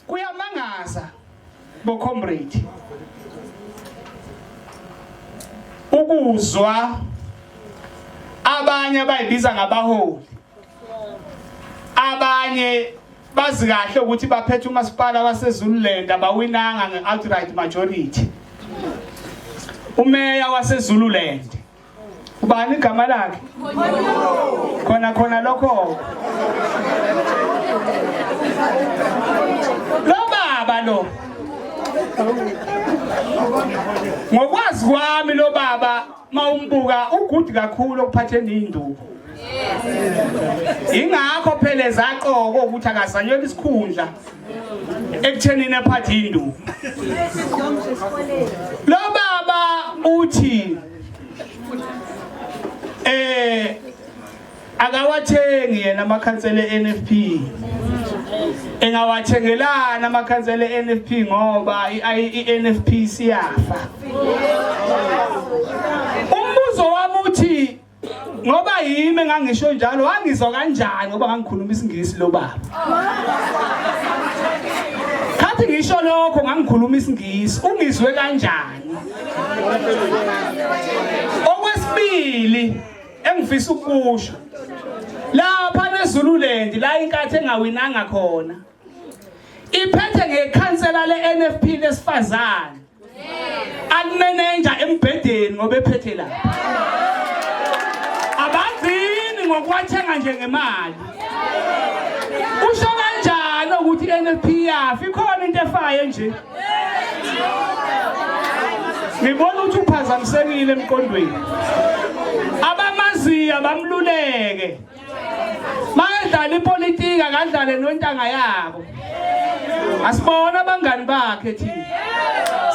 kuyamangaza bo comrade ukuzwa abanye abayibiza ngabaholi abanye bazi kahle ukuthi baphethe umasipala waseZululand abawinanga ngeoutright majority umeya waseZululand ubani igama lakhe khona khona lokho lo baba lo ngokwazi kwami lo baba mawumbuka ugudi kakhulu okuphatheni induku ingakho phela ezaqoko ukuthi akazanyela isikhundla ekuthenini aphathe induku lo baba uthi eh akawathengi yena amakhansela eNFP engawathengelana amakhansela eNFP ngoba iNFP siyafa ngoba yimi engangisho njalo wangizwa kanjani ngoba ngangikhuluma isingisi lo baba khathi ngisho lokho ngangikhuluma isingisi ungizwe kanjani okwesibili engifisa ukusho lapha nezululendi la inkathi engawinanga khona iphethe ngekhansela le-nfp lesifazane alimenenja embhedeni ngoba ephethe la abagcini ngokuwathenga nje ngemali usho kanjani ukuthi i-nfp yafi ikhona into efayo nje ngibona ukuthi uphazamisekile emqondweni abamaziyo bamluleke Makadlala ipolitiki akadlale nontanga yabo. Asibona abangani bakhe thina.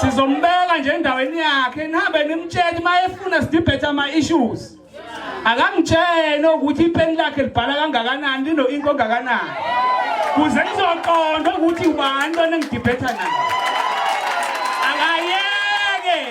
Sizombeka nje endaweni yakhe nihambe nimtshele mayefuna sidibhethe ama issues. Akamtshele ukuthi ipeni lakhe libhala kangakanani lino inko kangakanani. Kuze nizoqonda ukuthi ubani lona ngidibhetha naye.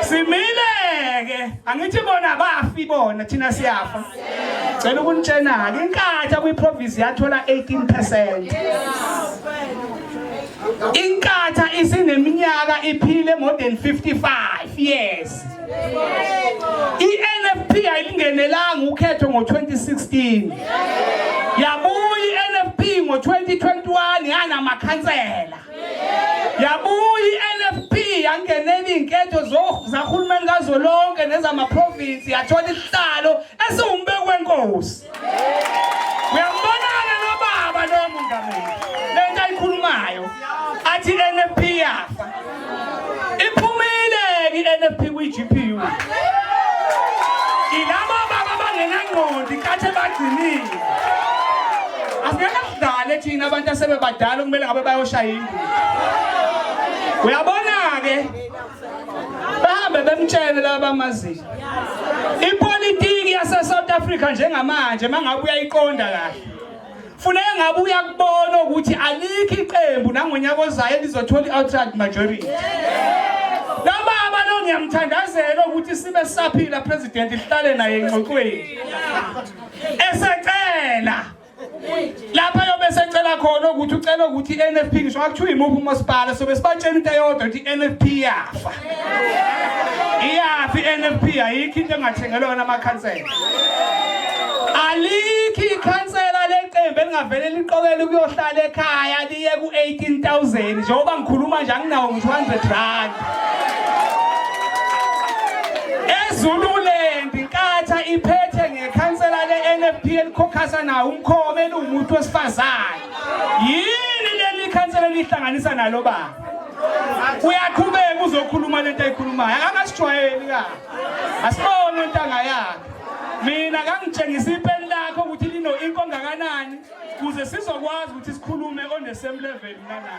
simile-ke angithi bona bafi bona thina siyafa cela ukunitshena-ke inkatha kwiprovinsi yathola 18 percent inkatha isineminyaka iphile more than 55 years i-nfp ayilingenelanga ukhetho ngo-2016 yabuya i-nfp ngo-2021 yanamakhansela yabuya i-nfp yangenela iy'nketho zahulumeni kazwelonke nezamaprovinsi yathola isihlalo esiwumbeki wenkosi uyambonana nobaba lo mongameli le nto ayikhulumayo athi i-nfp yafa iphumile-ke i-nfp kwi-gpu ilaba baba abangenangqondi kathi bagcinile Qale thina abantu asebebadala kumele ngabe bayoshaya indlu. Uyabona ke? Bahambe bemtshele laba bamaziyo. Ipolitiki yase South Africa njengamanje mangabe uyayiqonda kahle. Funeka ngabe uyakubona ukuthi alikho iqembu nangonyaka ozayo elizothola i-outright majority. Noma abantu ngiyamthandazela ukuthi sibe saphila president ihlale naye engxoxweni. Esecela lapha yobe secela khona ukuthi ucela ukuthi i-nfp ngisho akuthiwa imuphi umasipala sobe sibatshela into eyodwa ukuthi i-nfp iyafa iyafa i-nfp ayikho into engathengelwa yona amakhansela alikho ikhansela leqembu elingavele liqokele ukuyohlala ekhaya liye ku-18000 njengoba ngikhuluma nje anginawo ngisho 100 rand ezulule Ikhansela le-NFP elikhokhasa nawo umkhome eliwumuntu wesifazane. Yini leli khansela lihlanganisa nalo baba? Uyaqhubeka uzokhuluma lento ayikhulumayo. Akasijwayeli ka. Asibone intanga yakhe. Mina kangitshengisa ipeni lakho ukuthi lino inko ngakanani kuze sizokwazi ukuthi sikhulume on the same level nana.